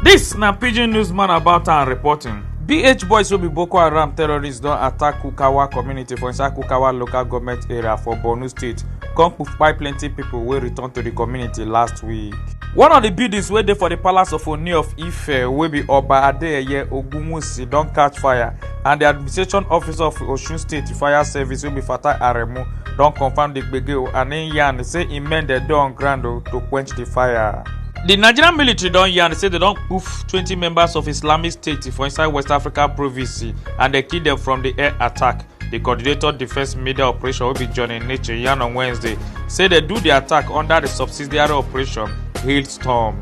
This na pidgin newsman about am reporting. BH boys wey be Boko Haram terrorists don attack Kukawa community for inside Kukawa local government area for Borno state come kpai plenty people wey return to the community last week. One of the buildings wey dey for the palace of Oni of Ife wey be Oba Adeyeye Ogunwusi don catch fire and di administration officer of osun state fire service wey be fatai aremu don confam di gbege o and im yarn say im men dem dey on ground o to quench di fire. di nigerian military don yarn say dem don kpoof twenty members of islamic state for inside west africa province and dem kill dem from di air attack. di coordinator defence media operation wey be johnny niche yarn on wednesday say dem do di attack under di subsidiary operation hailstorm.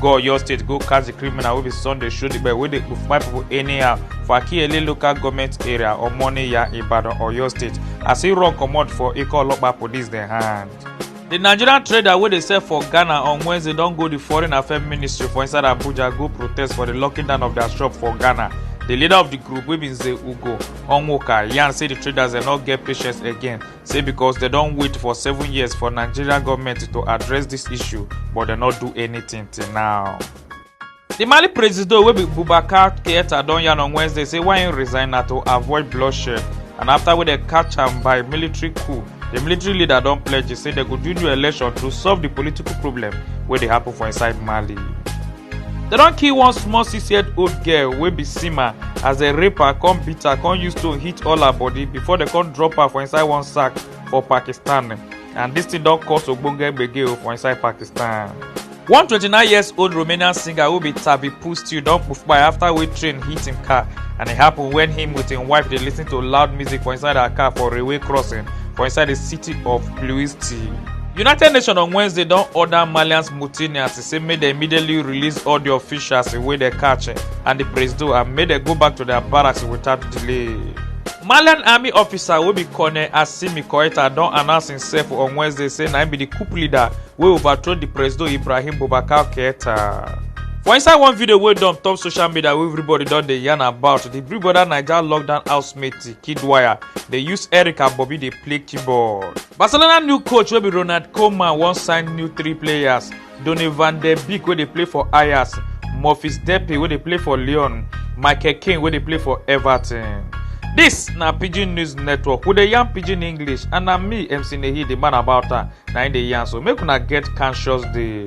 go oyo state go catch di criminal wey be sunday shodigbe wey dey kpai pipo anyhow for akiyele local goment area omoniya ibadan oyo state as e run comot for eko olopa police dem hand. di nigerian trader wey dey sell for ghana on wednesday don go di foreign affairs ministry for inside abuja go protest for di locking down of dia shop for ghana di leader of di group wey be nze ugo onwuka yarn say di traders dem no get patience again say because dem don wait for seven years for nigeria goment to address dis issue but dem no do anything till now. di mali presido wey be boubacar keita don yarn on wednesday say why im resign na to avoid bloodshed and afta wey dem catch am by military coup di military leader don pledge say dem go do new election to solve di political problem wey dey happun for inside mali. dem don kill one small six year old girl wey be sima as dem rape her come beat her come use stone hit all her body before dem come drop her for inside one sack for pakistan and dis thing don cause ogbonge gbege o for inside pakistan. one 29 years old romanian singer wey be tavi pustiu don kpai afta wey train hit im car and e happun wen him with im wife dey listen to loud music for inside her car for railway crossing for inside di city of ploesti. united nations on wednesday don order malians mutinias say make dem immediately release all di officials wey dem catch and di presido and make dem go back to dia barracks without delay. malian army officer wey be colonel assimi koita don announce imsef on wednesday say na im be di coup leader wey overthrow di presido ibrahim boubacar keita. for inside one video wey don top social media wey everybody don dey yarn about di big brother naija lockdown housemate kidwaya dey use eric and bobi dey play keyboard. barcelona new coach wey be ronald koeman wan sign new three players Donny van der Beek wey dey play for Ajax, Memphis Depay wey dey play for Lyon, Michael Keane wey dey play for Everton. Dis na Pidgin News Network, we dey yarn Pidgin English and na me MC Nehi the man about am na im dey yarn so make una get conscious day.